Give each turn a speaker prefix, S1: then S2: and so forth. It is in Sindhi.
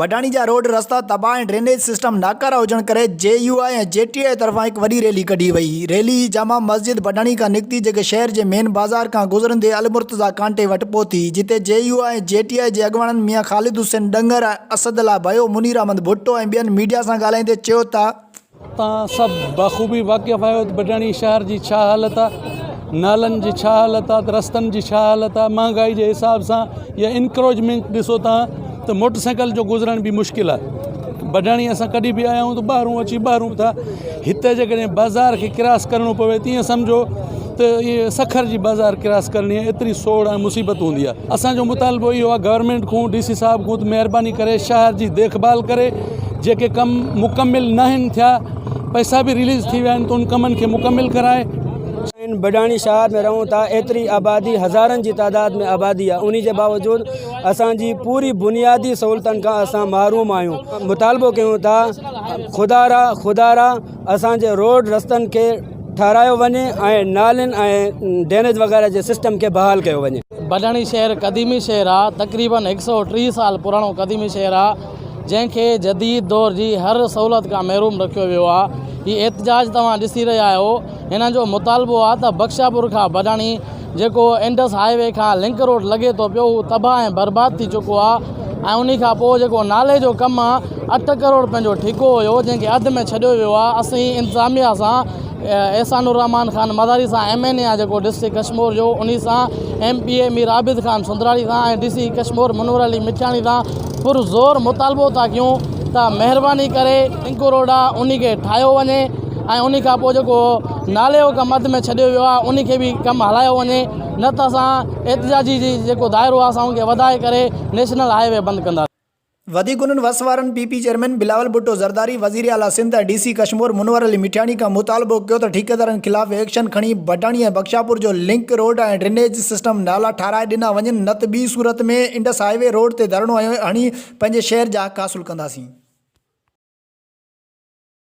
S1: ڀٽاڻي جا روڊ رستا تباهه ۽ ڊرينيج سسٽم ناڪارا هجڻ ڪري جي يو آء ۽ جي ٽي آء طرفان هڪ وڏي ريلي ڪڍي وئي ريلي جامع مسجد ڀٽاڻي کان نڪتي جيڪي شهر جي مين بازار کان گذرندي المرتضيٰ ڪانٽي وٽ پهتي جتي جي يو آء ۽ جي ٽي آء جي اڳواڻن ميان خالد حسين ڏنگر، اسد الله ڀيو، منير احمد ڀٽو ۽ ٻين ميڊيا سان ڳالهائيندي چيو ته. توهان سڀ
S2: بخوبي واقف آهيو ته بڊاڻي شهر جي ڇا حالت آهي نالن جي ڇا حالت آهي ته رستن جي ڇا حالت آهي مهانگائي جي حساب سان يا انڪروجمينٽ ڏسو توهان ته موٽر سائيڪل جو گذرڻ به مشڪل آهي بڊاڻي اسان ڪڏهن به آيا آهيون ته ٻاهرون اچي ٻاهرون ٿا هتي جيڪڏهن بازار کي ڪراس ڪرڻو پوي تيئن سمجهو ته اهي سکر جي بازار ڪراس ڪرڻي ايتري سوڙ ۽ مصيبت هوندي آهي اسان جو مطالبو اهو آهي گورنمينٽ کون ڊي سي صاحب کون ته مهرباني ڪري شهر جي ديک ڀال ڪري جيڪي ڪم مڪمل ناهن ٿيا پئسا به رليز ٿي ويا آهن ته ان ڪمن کي مڪمل ڪرائي سائين بڊاڻي
S3: شهر ۾ رهون ٿا ايتري آبادي هزارن جي تعداد ۾ آبادي آهي انهي جي باوجود اسان جي پوري بنيادي سهولتن کان اسان محروم آهيون مطالبو ڪيون ٿا خدارا خدارا اسان جي روڊ رستن کي ٺاهرايو وڃي ۽ نالين ۽ ڊينيج وغيره جي سسٽم کي بحال ڪيو وڃي. بڊاڻي شهر
S4: قديمي شهر آ تقريبن هڪ سئو ٽيهه سال پراڻو قديمي شهر آ جنهن کي جديد دور جي هر سهولت کان محروم رکيو ويو آ هي احتجاج توهان ڏسي رهيا آهيو هنن جو مطالبو آ ته بخشاپور کان بڊاڻي جيڪو انڊس هاء وي کان لنڪ روڊ لڳي ٿو پيو هو تباهه ۽ برباد ٿي چڪو آهي ۽ انهي کان پوء جيڪو نالي جو ڪم آهي اٺ ڪروڙ رپين جو ٺيڪو هيو جنهن کي اڌ ۾ ڇڏيو ويو آهي اسين انتظاميا سان احسان الرحمان خان مزاري سان ايم اين اي آهي جيڪو ڊسٽرڪٽ ڪشمور جو انهي سان M P A Mir Abid Khan Sundrani سان ۽ ڊي سي ڪشمور منور علي مٺياڻي سان پر زور مطالبو ٿا ڪيون ته مهرباني ڪري لنڪ روڊ آهي انهي کي ٺاهيو وڃي ۽ انهي کان پوء جيڪو نالي جو ڪم اڌ ۾ ڇڏيو ويو آهي ان کي به ڪم هلايو وڃي نه ته اسان احتجاجي جي جيڪو دائرو آهي اسان ان کي وڌائي ڪري نيشنل هاء وي بند ڪنداسين. وڌيڪ انهن
S1: وس وارن P P chairman Bilawal Bhutto Zardari وزير اعليٰ سنڌ ۽ ڊي سي ڪشمور منور علي مٺياڻي کان مطالبو ڪيو ته ٺيڪيدارن خلاف ايڪشن کڻي ڀٽاڻي ۽ بخشاپور جو لنڪ روڊ ۽ ڊرينيج سسٽم نالا ٺاهرائي ڏنا وڃن نه ته ٻي صورت ۾ انڊس هاء وي روڊ تي ڌرڻو هڻي پنهنجي شهر جا حق حاصل ڪنداسين.